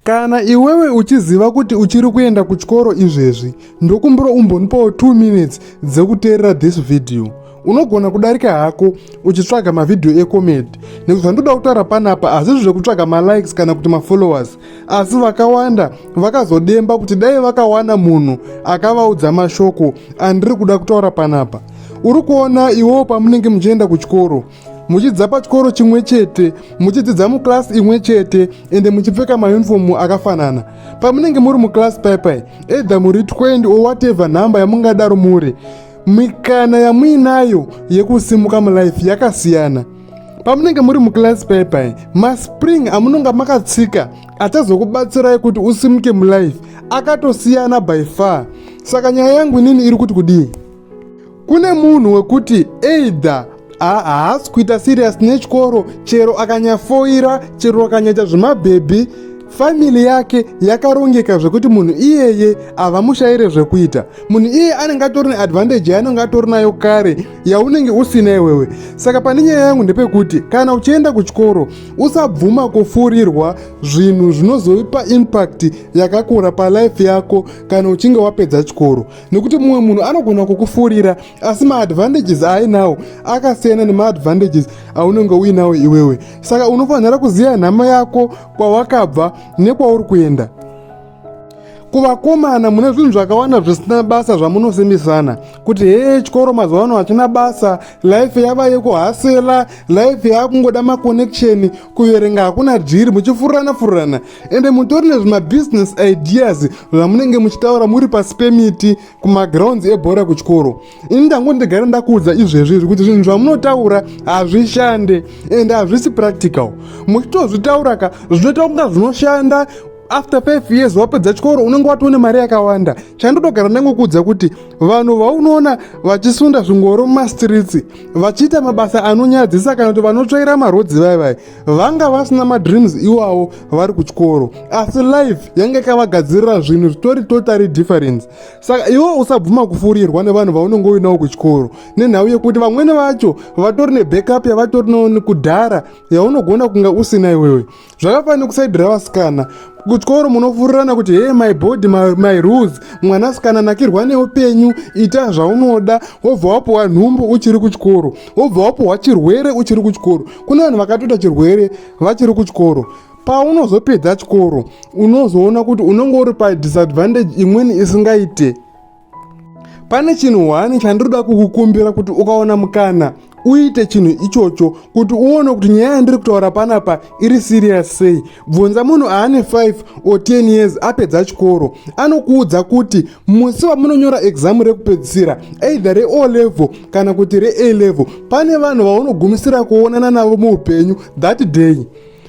kana iwewe uchiziva kuti uchiri kuenda kuchikoro izvezvi ndokumbira umbonipawo 2 minutes dzekuteerera this video unogona kudarika hako uchitsvaga mavhidhiyo ecomedy nekuti zvandoda kutaura panapa hazvizvo zvekutsvaga malikes kana kuti mafollowers asi vakawanda vakazodemba kuti dai vakawana munhu akavaudza mashoko andiri kuda kutaura panapa uri kuona iwewo pamunenge muchienda kuchikoro muchidza pachikoro chimwe chete muchidzidza muclass imwe chete ende muchipfeka maunifomu akafanana pamunenge muri muclass paipai either muri 20 or whatever nhamba yamungadaro muri mikana yamuinayo yekusimuka mulife yakasiyana pamunenge muri muclass paipai maspring amunonga makatsika achazokubatsirai kuti usimuke mulife akatosiyana by far saka nyaya yangu inini iri kuti kudii Kune munhu wekuti either haasi kuita serious nechikoro chero akanyafoira chero akanyaita zvemabhebhi famili yake yakarongeka zvekuti munhu iyeye havamushaire zvekuita munhu iyeye anenge atori neadvantage yaanenge atori nayo kare yaunenge usina iwewe saka pane nyaya yangu ndepekuti kana uchienda kuchikoro usabvuma kufurirwa zvinhu zvinozoipa impact yakakura palife yako kana uchinge wapedza chikoro nekuti mumwe munhu anogona kukufurira asi maadvantages aainawo akasiyana nemaadvantages aunenge uinawo iwewe saka unofanira kuziva nhama yako kwawakabva nekwauri kuenda kuvakomana mune zvinhu zvakawanda zvisina basa zvamunosimbisana kuti hee chikoro mazuva ano hachina basa life yava yekuhasela life yava kungoda maconnection kuverenga hakuna dhiri muchifurirana furirana ende mutori nezvimabusiness ideas zvamunenge muchitaura muri pasi pemiti kumagrounds ebhora kuchikoro ini ndango ndigara ndakuudza izvezvi zvekuti zvinhu zvamunotaura hazvishande ende hazvisi practical muchitozvitaura ka zvinoita kunga zvinoshanda after five years wapedza chikoro unenge watoone mari yakawanda chandotogara ndangokuudza kuti vanhu vaunoona vachisunda zvingoro mumastreets vachiita mabasa anonyadzisa kana kuti vanotsvaira marodzi vaivai vanga vasina madreams iwawo vari kuchikoro asi life yange ikavagadzirira zvinhu zvitori totally difference saka iwe usabvuma kufurirwa nevanhu vaunenge uinawo kuchikoro nenhau yekuti vamwene vacho vatori nebackup yavatori noni kudhara yaunogona kunge usina iwewe zvakafanira kusaidira vasikana kuchikoro munofurirana kuti hee my body my, my rules mwanasikana nakirwa neupenyu ita zvaunoda wobva wapuwa nhumbu uchiri kuchikoro wobva wapuwa chirwere uchiri kuchikoro kune vanhu vakatoita chirwere vachiri kuchikoro paunozopedza chikoro unozoona kuti unonge uri padisadvantage imweni isingaite pane chinhu hwani chandinoda kukukumbira kuti ukaona mukana uite chinhu ichocho kuti uone kuti nyaya yandiri kutaura panapa iri serious sei bvunza munhu aane 5 or 10 years apedza chikoro anokuudza kuti musi vamunonyora exam rekupedzisira either reo level kana kuti ree level pane vanhu vaunogumisira kuonana navo muupenyu that day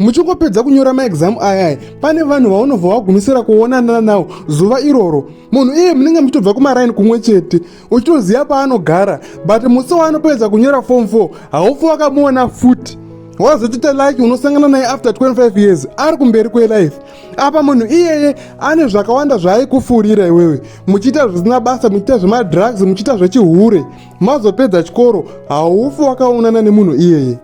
muchingopedza kunyora maexam ayaya pane vanhu vaunobva wagumisira kuonana nawo zuva iroro munhu iye munenge muchitobva kumaraini kumwe chete uchitoziva paanogara but musi waanopedza kunyora form 4 haufi wakamuona futi wazotiita laki unosangana naye after 25 years ari kumberi kwelife apa munhu iyeye ane zvakawanda zvaaikufurira iwewe muchiita zvisina basa muchiita zvemadrugs muchiita zvechihure mazopedza chikoro haufi wakaonana nemunhu iyeye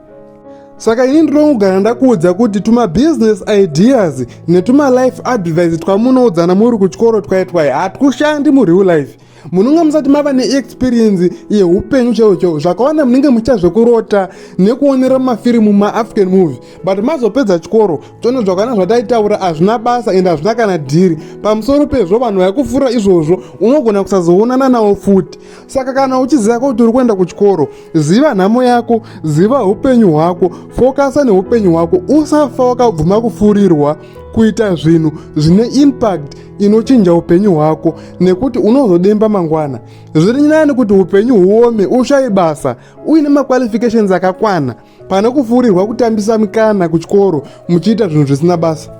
saka ini ndinongogara ndakuudza kuti tumabusiness ideas netumalife advice twamunoudzana muri kuchikoro twaitwai hatikushandi mureal life munonga musati mava neexperience yeupenyu chaiwo chaiwo zvakawanda munenge muchiita zvekurota nekuonera mafirimu maafrican movie but mazopedza chikoro toona zvakawanda zvataitaura hazvina basa ende hazvina kana dhiri pamusoro pezvo vanhu vaikufurira izvozvo unogona kusazoonana nawo futi saka kana uchiziva kuti uri kuenda kuchikoro ziva nhamo yako ziva upenyu hwako fokasa neupenyu hwako usafa wakabvuma kufurirwa kuita zvinhu zvine impact inochinja upenyu hwako nekuti unozodemba mangwana zviri nyani kuti upenyu huome ushaye basa uine maqualifications akakwana pane kufurirwa kutambisa mikana kuchikoro muchiita zvinhu zvisina basa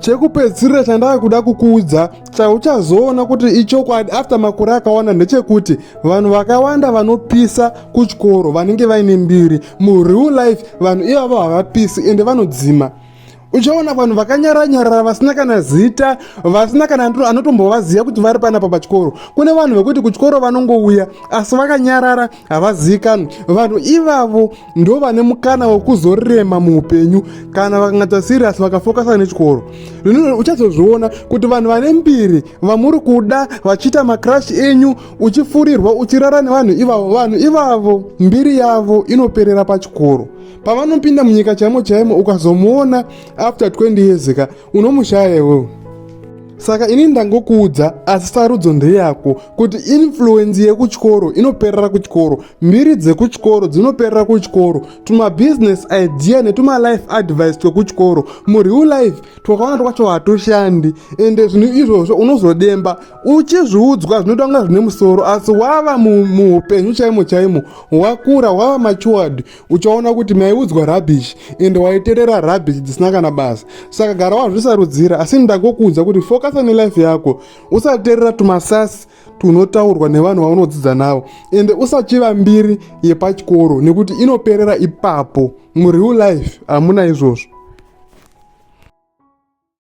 chekupedzisirira chandava kuda kukuudza chauchazoona kuti ichokwadi after makore akawanda ndechekuti vanhu vakawanda vanopisa kuchikoro vanenge vaine mbiri mureal life vanhu ivavo havapisi ende vanodzima uchaona vanhu vakanyara nyarara vasina kana zita vasina kana anotombovaziva kuti vari panapa pachikoro kune vanhu vekuti kuchikoro vanongouya asi vakanyarara havazivikanwi vanhu ivavo ndo vane mukana wekuzorema muupenyu kana vakangata siriyasi vakafokasa nechikoro zvino uchazozviona kuti vanhu vane mbiri vamuri kuda vachiita makrash enyu uchifurirwa uchirara nevanhu ivavo vanhu ivavo mbiri yavo inoperera pachikoro pavanopinda munyika chaimo chaimo ukazomuona after 20 years ka unomushaya iwewe saka ini ndangokuudza asi sarudzo ndeyako kuti influenzi yekuchikoro inoperera kuchikoro mbiri dzekuchikoro dzinoperera kuchikoro tumabusiness idea netumalife advice twekuchikoro mureal life twakawanda twacho hatoshandi ende zvinhu izvozvo unozodemba uchizviudzwa zvinoita kunga zvine musoro asi wava muupenyu chaimo chaimo wakura wava machuward uchaona kuti maiudzwa rubbish and waiterera rubbish dzisina kana basa saka gara wazvisarudzira asi ndagokuudza kuti fokasa nelife yako usaterera tumasasi tunotaurwa nevanhu vaunodzidza navo ende usachiva mbiri yepachikoro nekuti inoperera ipapo mureal life hamuna izvozvo